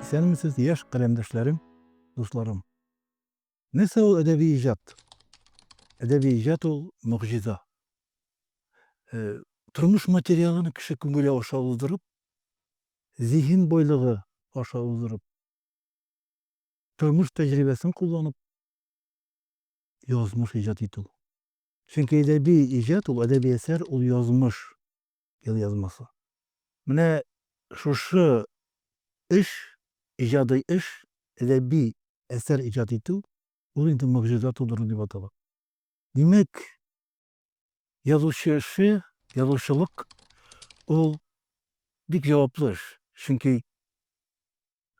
Исәнмесез, яшь каләмдәшләрем, дусларым. Нәрсә ул әдәби иҗат? Әдәби иҗат ул могҗиза. Э, тормыш материалын кеше күңеле аша уздырып, зиһен байлыгы аша уздырып, тормыш тәҗрибәсен кулланып, язмыш иҗат итү. Чөнки әдәби иҗат ул әдәби әсәр, ул язмыш, елъязмасы. Менә шушы эш, иҗади эш, әдәби әсәр иҗат итү, ул инде могҗиза тудыру дип атала. Димәк, язучы эше, язучылык ул бик җаваплы эш. Чөнки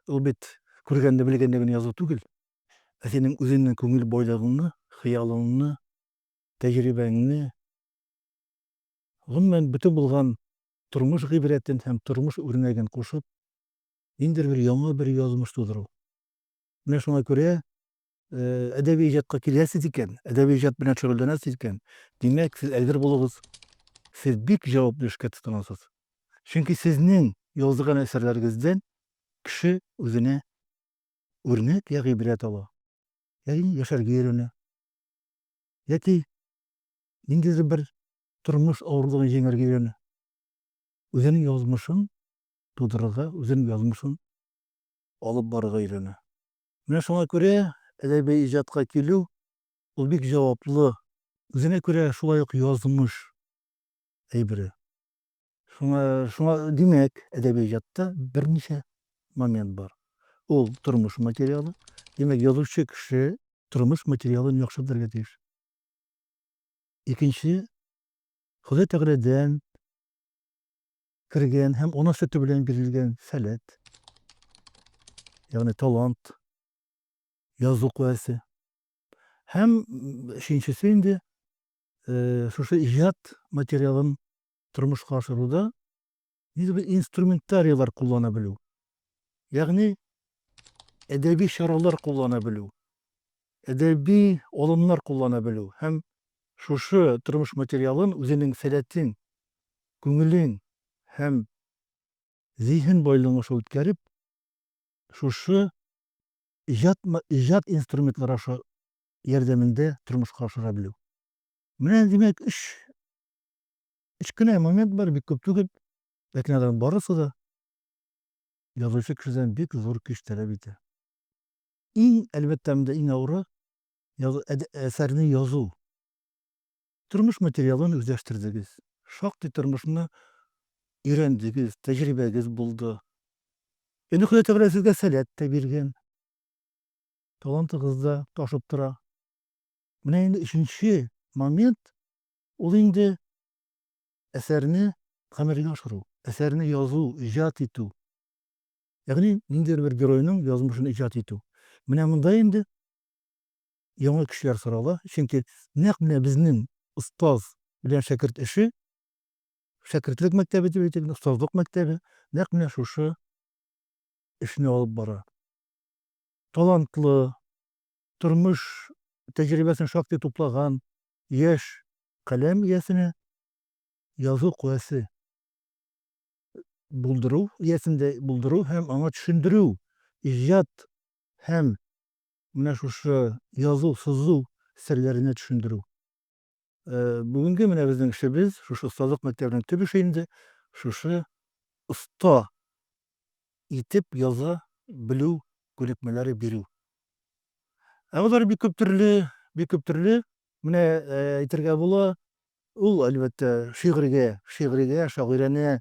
ул бит күргәнне, белгәнне генә язу түгел. Ә синең үзеңнең күңел байлыгыңны, хыялыңны, тәҗрибәңне, гомумән, бөтен булган тормыш гыйбрәтен һәм тормыш үрнәген кушып, ниндидер бер яңа бер язмыш тудыру. Менә шуңа күрә әдәби иҗатка киләсез икән, әдәби иҗат белән шөгыльләнәсез икән, димәк, сез әзер булыгыз. Сез бик җаваплы эшкә тотынасыз. Чөнки сезнең язган әсәрләрегездән кеше үзенә Үрнәк йә гыйбрәт ала, йә инде яшәргә өйрәнә, яки ниндидер бер тормыш авырлыгын җиңәргә өйрәнә. Үзенең язмышын тудырырга, үзенең язмышын алып барырга өйрәнә. Менә шуңа күрә әдәби иҗатка килү, ул бик җаваплы, үзенә күрә шулай ук язмыш әйбере. Шуңа, шуңа, димәк, әдәби иҗатта берничә момент бар. Ул, тормыш материалы. Димәк, язучы кеше тормыш материалын яхшы белергә тиеш. Икенче, Ходай Тәгаләдән кергән һәм ана сөте белән бирелгән сәләт, ягъни талант, язу куәсе. Һәм өченчесе инде, шушы иҗат материалын тормышка ашыруда нидер бер инструментарийлар куллана белү. Ягъни әдәби чаралар куллана белү, әдәби алымнар куллана белү һәм шушы тормыш материалын үзенең сәләтен, күңелен һәм зиһен байлыгын аша үткәреп, шушы иҗат, иҗат инструментлары аша ярдәмендә тормышка ашыра белү. Менә, димәк, өч өч кенә момент бар, бик күп түгел, ләкин аларның барысы да язучы кешедән бик зур көч таләп итә. Иң, әлбәттә, монда иң авыры әсәрне язу. Тормыш материалын үзләштердегез, шактый тормышны өйрәндегез, тәҗрибәгез булды. Инде Ходай Тәгалә сезгә сәләт тә биргән. талантыгыз да ташып тора. Менә инде өченче момент, ул инде әсәрне гамәлгә ашыру, әсәрне язу, иҗат итү. Ягъни ниндидер бер геройның язмышын иҗат итү. Менә монда инде яңа көчләр сорала, чөнки нәкъ менә безнең остаз белән шәкерт эше, шәкертлек мәктәбе дип әйтик, остазлык мәктәбе нәкъ менә шушы эшне алып бара. талантлы, тормыш тәҗрибәсен шактый туплаган яшь каләм иясенә язу куәсе булдыру иясендә булдыру һәм аңа төшендерү, иҗат һәм менә шушы язу-сызу серләренә төшендерү. Бүгенге менә безнең эшебез, шушы остазлык мәктәбенең төп эше инде, шушы оста итеп яза белү күнекмәләре бирү. Ә алар бик күп төрле, бик күп төрле. Менә әйтергә була, ул, әлбәттә, шигырьгә, шигъригә, шагыйрәнә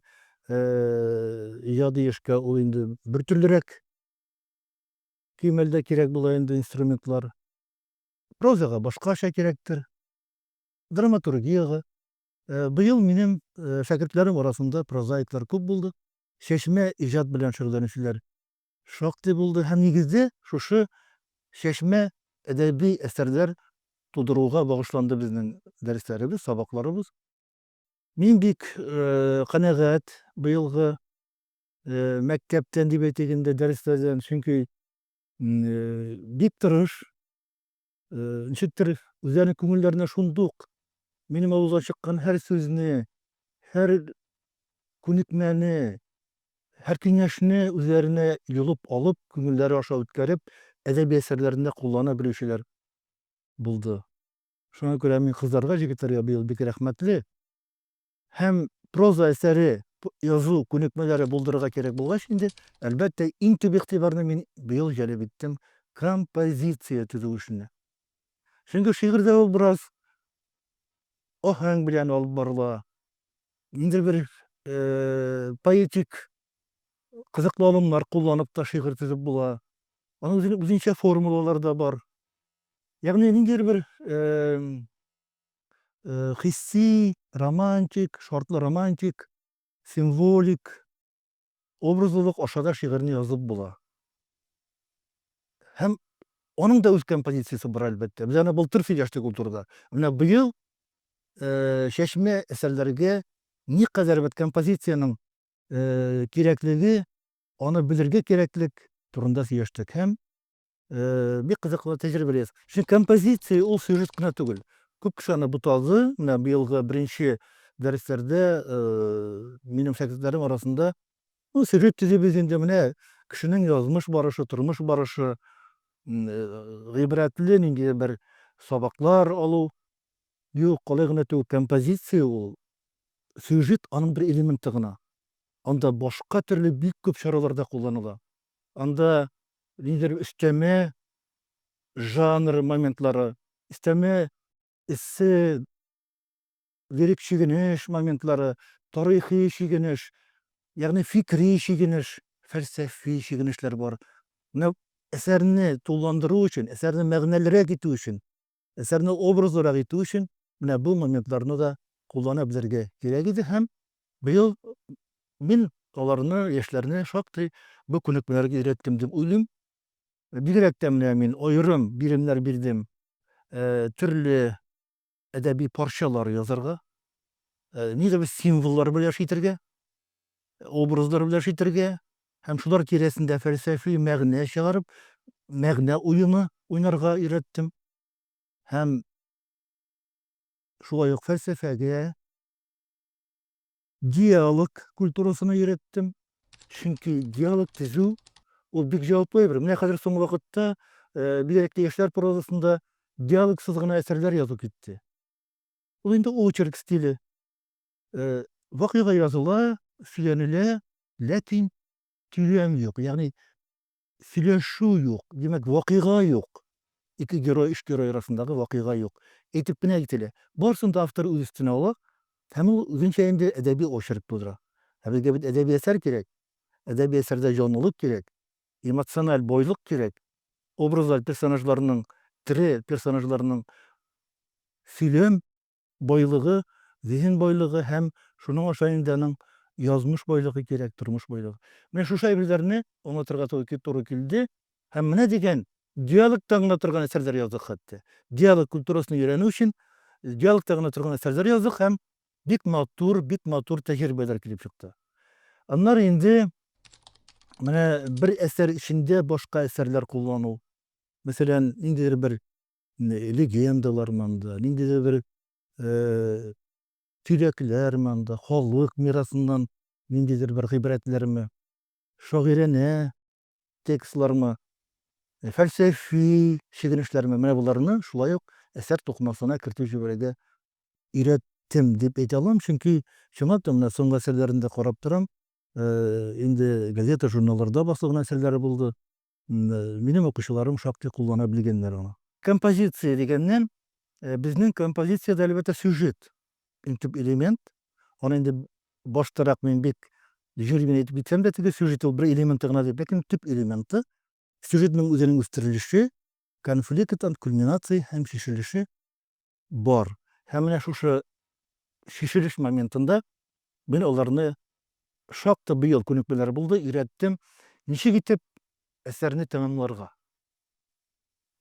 иҗади эшкә ул инде бертөрлерәк кимәлдә кирәк була инде инструментлар. Прозага башкача кирәктер, драматургиягә. Быел минем шәкертләрем арасында прозаиклар күп булды. Чәчмә иҗат белән шөгыльләнүчеләр шактый булды һәм нигезе шушы чәчмә әдәби әсәрләр тудыруга багышланды безнең дәресләребез, сабакларыбыз. Мин бик канәгать быелгы мәктәптән дип әйтик инде, дәресләрдән, чөнки Бик тырыш. Ничектер үзләренең күңелләренә шундук минем авыздан чыккан һәр сүзне, һәр күнекмәне, һәр киңәшне үзләренә йолып алып, күңелләре аша үткәреп, әдәби әсәрләрендә куллана белүчеләр булды. Шуңа күрә мин кызларга, җегетләргә быел бик рәхмәтле. һәм проза әсәре язу күнекмәләре булдырырга кирәк булгач инде, әлбәттә, иң төп игътибарны мин быел җәлеп иттем композиция төзү эшенә. Чөнки шигырьдә ул бераз аһәң белән алып барыла, ниндидер бер поэтик кызыклы алымнар кулланып та шигырь төзеп була. Аның үзенчә формулалары да бар. Ягъни ниндидер бер хисси, романтик, шартлы романтик, символик, образлылык аша да шигырьне язып була. Һәм аның да үз композициясе бар, әлбәттә. Без аны былтыр сөйләштек ул турыда. Менә быел чәчмә әсәрләргә никадәр бит композициянең кирәклеге, аны белергә кирәклек турында сөйләштек һәм Э, бик кызыклы тәҗрибәләр. Чөнки композиция ул сюжет кына түгел. Күп кеше аны буталды. Менә быелгы беренче дәресләрдә э, минем шәкертләрем арасында ну, сюжет төзибез инде менә кешенең язмыш барышы, тормыш барышы, э, гыйбрәтле нинди бер сабаклар алу. Юк, калай гына түгел, композиция ул сюжет аның бер элементы гына. Анда башка төрле бик күп чараларда кулланыла. Анда ниндидер өстәмә жанр моментлары, өстәмә эссе, лирик чигенеш моментлары, тарихи чигенеш, ягъни фикри чигенеш, фәлсәфи чигенешләр бар. Менә әсәрне тулыландыру өчен, әсәрне мәгънәлерәк итү өчен Әсәрне образлырак итү өчен менә бу моментларны да куллана белергә кирәк иде һәм быел мин аларны, яшьләрне шактый бу күнекмәләргә өйрәттем дип уйлыйм. Бигрәк тә менә мин аерым биремнәр бирдем төрле әдәби парчалар язарга, нидер бер символлар белән яши итәргә. образлар белән эш итәргә һәм шулар тирәсендә фәлсәфи мәгънә чыгарып, мәгънә уены уйнарга өйрәттем. Һәм шулай ук фәлсәфәгә, диалог культурасына өйрәттем. Чөнки диалог төзү ул бик җаваплы әйбер. Менә хәзер соңгы вакытта, бигрәк тә яшьләр прозасында диалогсыз гына әсәрләр язу китте. Ул инде очерк стиле. Вакыйга языла, сөйләнелә, ләкин сөйләм юк, ягъни сөйләшү юк, димәк, вакыйга юк. Ике герой, өч герой арасындагы вакыйга юк. Әйтеп кенә кителә. Барысын да автор үз өстенә ала һәм ул үзенчә инде әдәби очерк тудыра. Ә безгә бит әдәби әсәр кирәк. Әдәби әсәрдә җанлылык кирәк, эмоциональ байлык кирәк, образлар, персонажларның, тере персонажларның сөйләм Байлыгы, зиһен байлыгы һәм шуның аша инде аның язмыш байлыгы кирәк, тормыш байлыгы. Менә шушы әйберләрне аңлатырга туры килде һәм менә дигән диалогта гына торган әсәрләр яздык хәтта. Диалог культурасын өйрәнү өчен диалогта гына торган әсәрләр яздык һәм бик матур, бик матур тәҗрибәләр килеп чыкты. Аннары инде менә бер әсәр эчендә башка әсәрләр куллану. Мәсәлән, ниндидер бер легендалар монда, ниндидер бер төйрәкләр монда, халык мирасыннан ниндидер бер гыйбрәтләрме, шагыйрәнә текстлармы, фәлсәфи чигенешләрме, менә боларны шулай ук әсәр тукымасына кертеп җибәрергә өйрәттем дип әйтә алам, чөнки чынлап та менә соңгы әсәрләрен дә карап торам, инде газета-журналларда басылган әсәрләре булды, Минем укучыларым шактый куллана белгәннәр аны. Композиция дигәннән, безнең композициядә әлбәттә сюжет иң төп элемент. Аны инде баштарак мин бик җүри генә әйтеп китсәм дә, теге сюжет ул бер элементы гына дип, ләкин төп элементы. Сюжетның үзенең үстерелеше, конфликт, кульминация һәм чишелеше бар. Һәм менә шушы чишелеш моментында мин аларны шактый быел күнекмәләр булды, өйрәттем, ничек итеп әсәрне тәмамларга.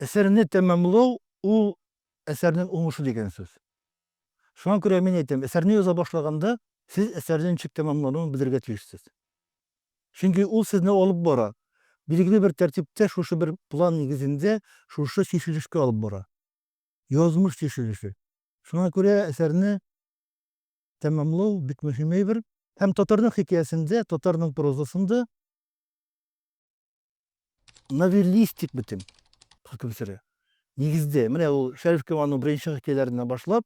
Әсәрне тәмамлау, ул әсәрнең уңышы дигән сүз. Шуңа күрә мин әйтәм, әсәрне яза башлаганда, сез әсәрнең ничек тәмамлануын белергә тиешсез. Чөнки ул сезне алып бара. Билгеле бер тәртиптә, шушы бер план нигезендә, шушы чишелешкә алып бара. язмыш тишелеше. Шуңа күрә әсәрне тәмамлау бик мөһим әйбер. Һәм татарның хикәясендә, татарның прозасында новеллистик бетем хөкем сөрә. Нигездә, менә ул Шәриф Камалның беренче хикәяләреннән башлап,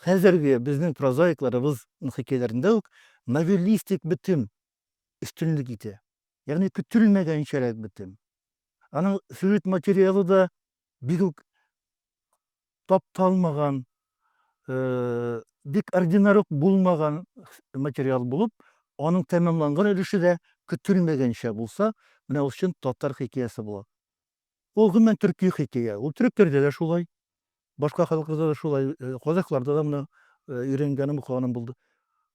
хәзерге безнең прозаикларыбызның хикәяләрендә үк новеллистик бетем өстенлек итә. Ягъни көтелмәгәнчәрәк бетем. Аның сюжет материалы да бик үк тапталмаган, бик ординар ук булмаган материал булып, аның тәмамланган өлеше дә көтелмәгәнчә булса, менә ул чын татар хикәясе була. Ул гомумән төрки хикәя. Ул төрекләрдә дә шулай, башка халыкларда да шулай, казахларда да менә өйрәнгәнем, укыганым булды.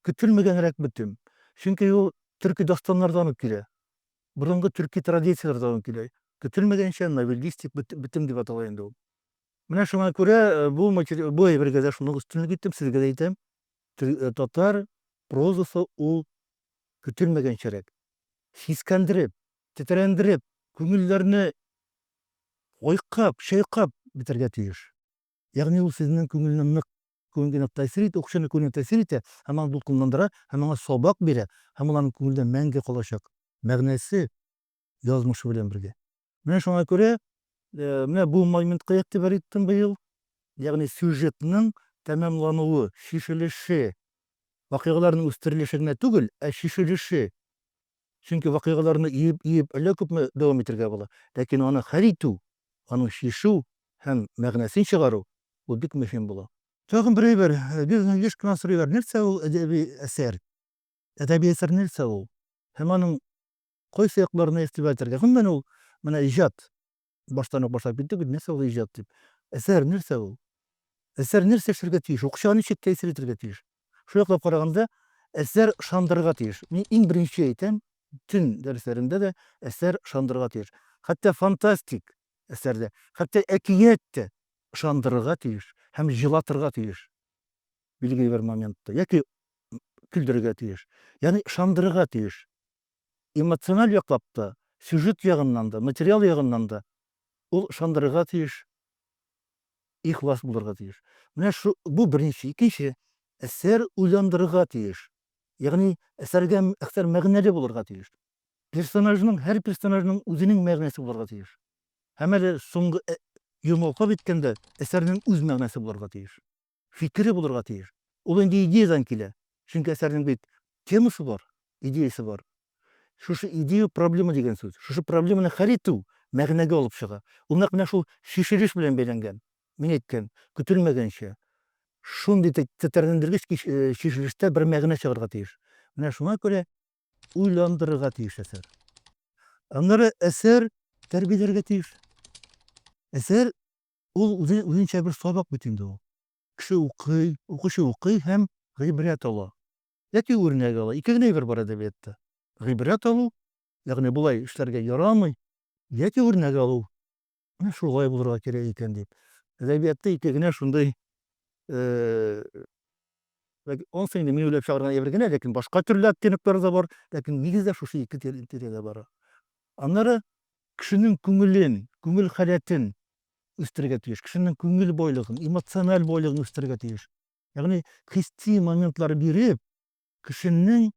Көтелмәгәнрәк бөтен. Чөнки ул төрки дастаннардан ук килә. Борынгы төрки традицияләрдән үк килә. Көтелмәгәнчә новеллистик бетем дип атала инде ул. Менә шуңа күрә бу бу әйбергә дә шуны өстенлек иттем, сезгә дә әйтәм. Татар прозасы ул көтелмәгәнчәрәк. Сискәндереп, тетрәндереп, күңелләрне айкап, чайкап бетәргә тиеш. Ягъни ул сезнең күңелне нык, күңелгә тәэсир итә, укучының күңеленә тәэсир итә һәм аны дулкынландыра һәм аңа сабак бирә һәм ул аның күңелендә мәңге калачак, мәгънәсе, язмышы белән бергә. Менә шуңа күрә, менә бу моментка игътибар иттем быел, ягъни сюжетның тәмамлануы, чишелеше, вакыйгаларның үстерелеше генә түгел, ә чишелеше, Чөнки вакыйгаларны иеп-иеп әллә күпме дәвам итергә була. Ләкин аны хәл итү, аны чишү һәм мәгънәсен чыгару, бу бик мөһим була. Тагын бер әйбер, безне еш кына сорыйлар, нәрсә ул әдәби әсәр? Әдәби әсәр нәрсә ул? Һәм аның кайсы якларына игътибар итәргә? Гомумән, ул, менә иҗат, Баштан ук башлап киттек бит, нәрсә ул иҗат дип. Әсәр нәрсә ул? Әсәр нәрсә эшләргә тиеш? Укучыга ничек тәэсир итәргә тиеш? Шул яклап караганда, әсәр ышандырырга тиеш. Мин иң беренче әйтәм, төн дәресләрендә дә әсәр ышандырырга тиеш. Хәтта фантастик әсәр дә, хәтта әкият тә ышандырырга тиеш һәм җылатырга тиеш билгеле бер моментта яки көлдерергә тиеш. Ягъни ышандырырга тиеш. Эмоциональ яклап та, сюжет ягыннан да, материал ягыннан да ул ышандырырга тиеш, ихлас булырга тиеш. Менә шу, бу беренче. Икенче, әсәр уйландырырга тиеш. Ягъни әсәргә әсәр мәгънәле булырга тиеш. Персонажның, һәр персонажның үзенең мәгънәсе булырга тиеш. Һәм әле соңгы йомгак иткәндә, әсәрнең үз мәгънәсе булырга тиеш. фикере булырга тиеш. Ул инде идеядан килә. Чөнки әсәрнең бит темасы бар, идеясе бар. Шушы идея проблема дигән сүз. Шушы проблеманы хәл итү мәгънәгә алып чыга. Ул нәкъ менә шул чишелеш белән бәйләнгән. Мин әйткән, көтелмәгәнчә, шундый тетрәндергеч чишелештә бер мәгънә чыгарга тиеш. Менә шуңа күрә уйландырырга тиеш әсәр. Аннары әсәр тәрбияләргә тиеш. Әсәр Ул үзе үзенчә бер сабак бит инде ул. Кеше укый, укучы укый һәм гыйбрәт ала. Яки үрнәк ала. Ике генә әйбер бар әдәбиятта. Гыйбрәт алу, ягъни болай эшләргә ярамый, яки үрнәк алу. Менә шулай булырга кирәк икән дип. Әдәбиятта ике генә шундый Ул сыйны мин уйлап чыгарган әйбер генә, ләкин башка төрле оттенокьлары да бар, ләкин нигездә шушы ике тирәдә бара. Аннары кешенең күңелен, күңел халәтен үстерергә тиеш, кешенең күңел байлыгын, эмоциональ байлыгын үстерергә тиеш. Ягъни хисси моментлар биреп, кешенең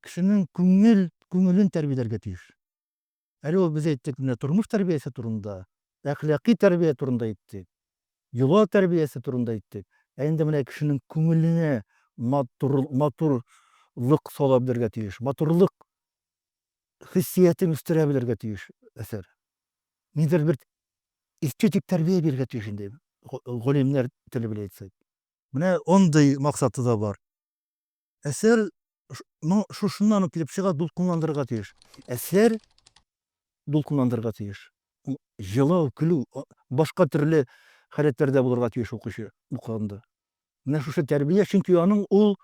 кешенең күңел күңелен тәрбияләргә тиеш. Әле ул без әйттек менә тормыш тәрбиясе турында, әхлакый тәрбия турында әйттек, йола тәрбиясе турында әйттек. Ә инде менә кешенең күңеленә матур, матурлык сала белергә тиеш, матурлык хиссиятен үстерә белергә тиеш әсәр. Нидер бер эстетик тәрбия бирергә тиеш инде, галимнәр теле белән әйтсәк. Менә андый максаты да бар. Әсәр ну, шушыннан ук килеп чыга, дулкынландырырга тиеш. Әсәр дулкынландырырга тиеш. Җылау, көлү, башка төрле халәтләрдә булырга тиеш укучы укыганда. Менә шушы тәрбия, чөнки аның ул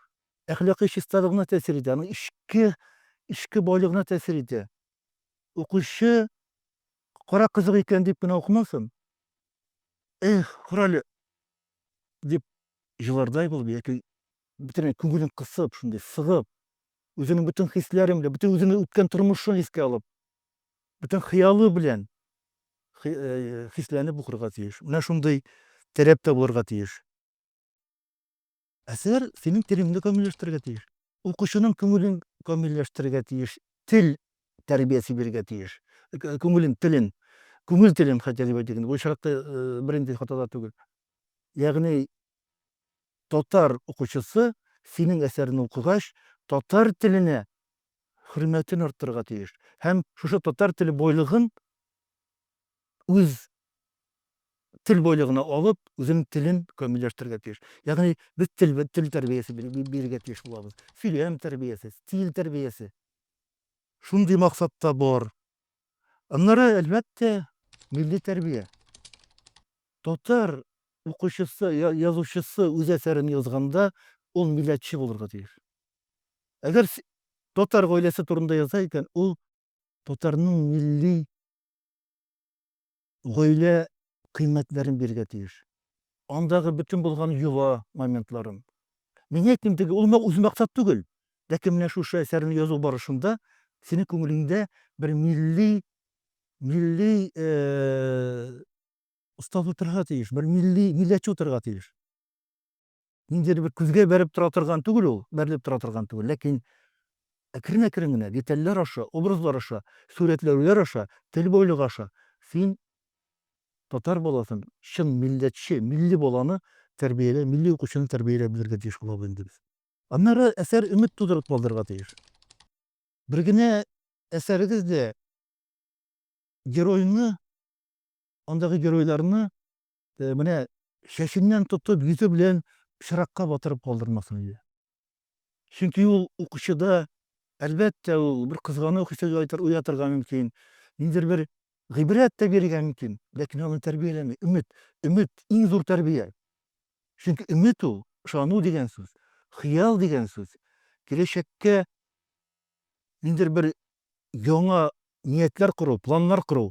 әхлакый чисталыгына тәэсир итә, аның эчке эчке байлыгына тәэсир итә. Укучы кара кызык икән дип кенә укымасын. Эх, күрәле, дип җылардай булып яки бөтенләй күңелен кысып, шундый сыгып, үзенең бөтен хисләре белән, бөтен үзенең үткән тормышын искә алып, бөтен хыялы белән э, хисләнеп укырга тиеш. Менә шундый таләп тә булырга тиеш. Әсәр синең телеңне камилләштерергә тиеш. Укучының күңелен камилләштерергә тиеш. Тел тәрбиясе бирергә тиеш. Э, күңелен, телен, күңел телен хәтта дип әйтик инде. Бу очракта э, бернинди хата да түгел. Ягъни татар укучысы синең әсәрне укыгач, татар теленә хөрмәтен арттырырга тиеш һәм шушы татар теле бойлыгын үз тел бойлыгына алып, үзенең телен камилләштерергә тиеш. Ягъни без тел тел тәрбиясе бирергә тиеш булабыз. Сөйләм тәрбиясе, стиль тәрбиясе. Шундый максатта бар. Аннары, әлбәттә, милли тәрбия. Татар укучысы, язучысы үз әсәрен язганда, ул милләтче булырга тиеш. Әгәр татар гаиләсе турында яза икән, ул татарның милли Гаилә кыйммәтләрен бирергә тиеш. Андагы бөтен булган йола моментларын. Мин әйтмим теге, ул үз максат түгел. Ләкин менә шушы әсәрне язу барышында синең күңелеңдә бер милли, милли остаз утырырга тиеш, бер милли милләтче утырырга тиеш. ниндидер бер күзгә бәреп тора торган түгел ул, бәрелеп тора торган түгел, ләкин әкрен-әкрен генә детальләр аша, образлар аша, сурәтләүләр аша, тел бойлыгы аша син татар баласын, чын милләтче, милли баланы тәрбияләп, милли укучыны тәрбияләп белергә тиеш булабыз инде без. Аннары әсәр өмет тудырып калдырырга тиеш. Бер генә әсәрегез дә геройны, андагы геройларны Менә чәченнән тотып, йөзе белән пычракка батырып калдырмасын иде. Чөнки ул укучыда, әлбәттә, ул бер кызгану хисе уятырга мөмкин, ниндидер бер гыйбрәт тә бирергә мөмкин, ләкин аны тәрбияләми. Өмет, өмет, иң зур тәрбия. Чөнки өмет ул, ышану дигән сүз, хыял дигән сүз, киләчәккә ниндидер бер яңа ниятләр кору, планнар кору,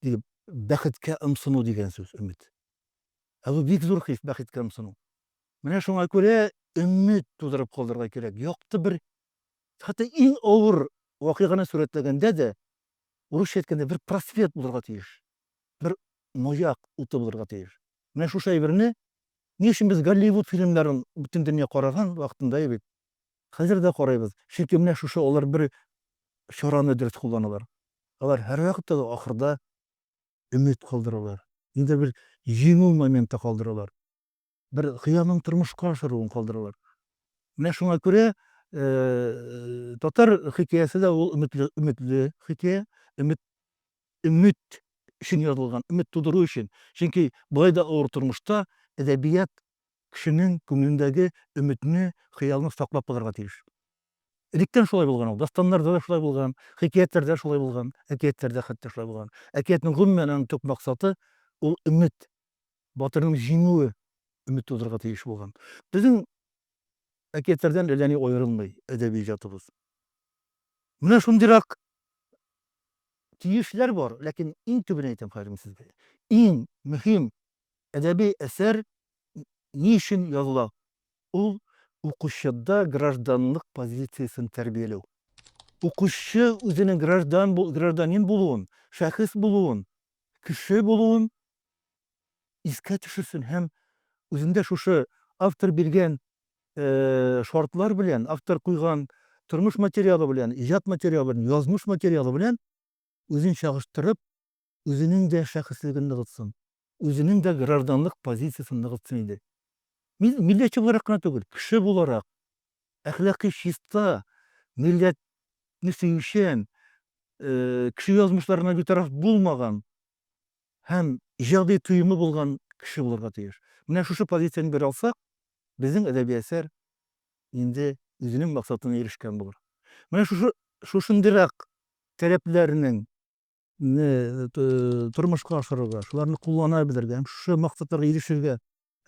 дип, бәхеткә ымсыну дигән сүз, өмет. Ә бу бик зур хис, бәхеткә ымсыну. Менә шуңа күрә өмет тудырып калдырырга кирәк. Якты бер, хәтта иң авыр вакыйганы сурәтләгәндә дә, урысча әйткәндә, бер просвет булырга тиеш, бер маяк уты булырга тиеш. Менә шушы әйберне ни өчен без Голливуд фильмнарын бөтен дөнья караган вакытында бит, Хәзер дә карыйбыз, чөнки менә шушы алар бер чараны дөрес кулланалар. Алар һәрвакытта да ахырда өмет калдыралар, нидер бер җиңү моменты калдыралар, бер хыялның тормышка ашыруын калдыралар. Менә шуңа күрә татар хикәясе дә ул өметле, өметле хикәя, өмет, өмет өчен язылган, өмет тудыру өчен. Чөнки болай да авыр тормышта әдәбият кешенең күңелендәге өметне, хыялны саклап калырга тиеш. Электән шулай булган ул. Дастаннарда да шулай булган, хикәятләрдә шулай булган, әкиятләрдә хәтта шулай булган. Әкиятнең, гомумән, аның төп максаты, ул өмет. Батырның җиңүе өмет тудырырга тиеш булган. Безнең әкиятләрдән әллә ни аерылмый әдәби иҗатыбыз. Менә шундыйрак тиешләр бар, ләкин иң төбен әйтәм хәзер мин сезгә. Иң мөһим Әдәби әсәр ни өчен языла? Ул, укучыда гражданлык позициясен тәрбияләү. Укучы үзенең граждан, гражданин булуын, шәхес булуын, кеше булуын искә төшерсен һәм үзендә шушы автор биргән шартлар белән, автор куйган тормыш материалы белән, иҗат материалы белән, язмыш материалы белән үзен чагыштырып, үзенең дә шәхеслеген ныгытсын, үзенең дә гражданлык позициясен ныгытсын иде. Мин милләтче буларак кына түгел, кеше буларак, әхлакый чиста, милләтне сөючән, кеше язмышларына битараф булмаган һәм иҗади тоемы булган кеше булырга тиеш. Менә шушы позицияне бер алсак, безнең әдәби әсәр инде үзенең максатына ирешкән булыр. Менә шушы шушындыйрак таләпләрнең не тормышка ашырырга, шуларны куллана белергә һәм шушы максатларга ирешергә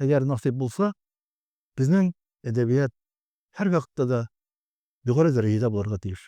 әгәр насыйп булса, безнең әдәбият һәр вакытта да югары дәрәҗәдә булырга тиеш.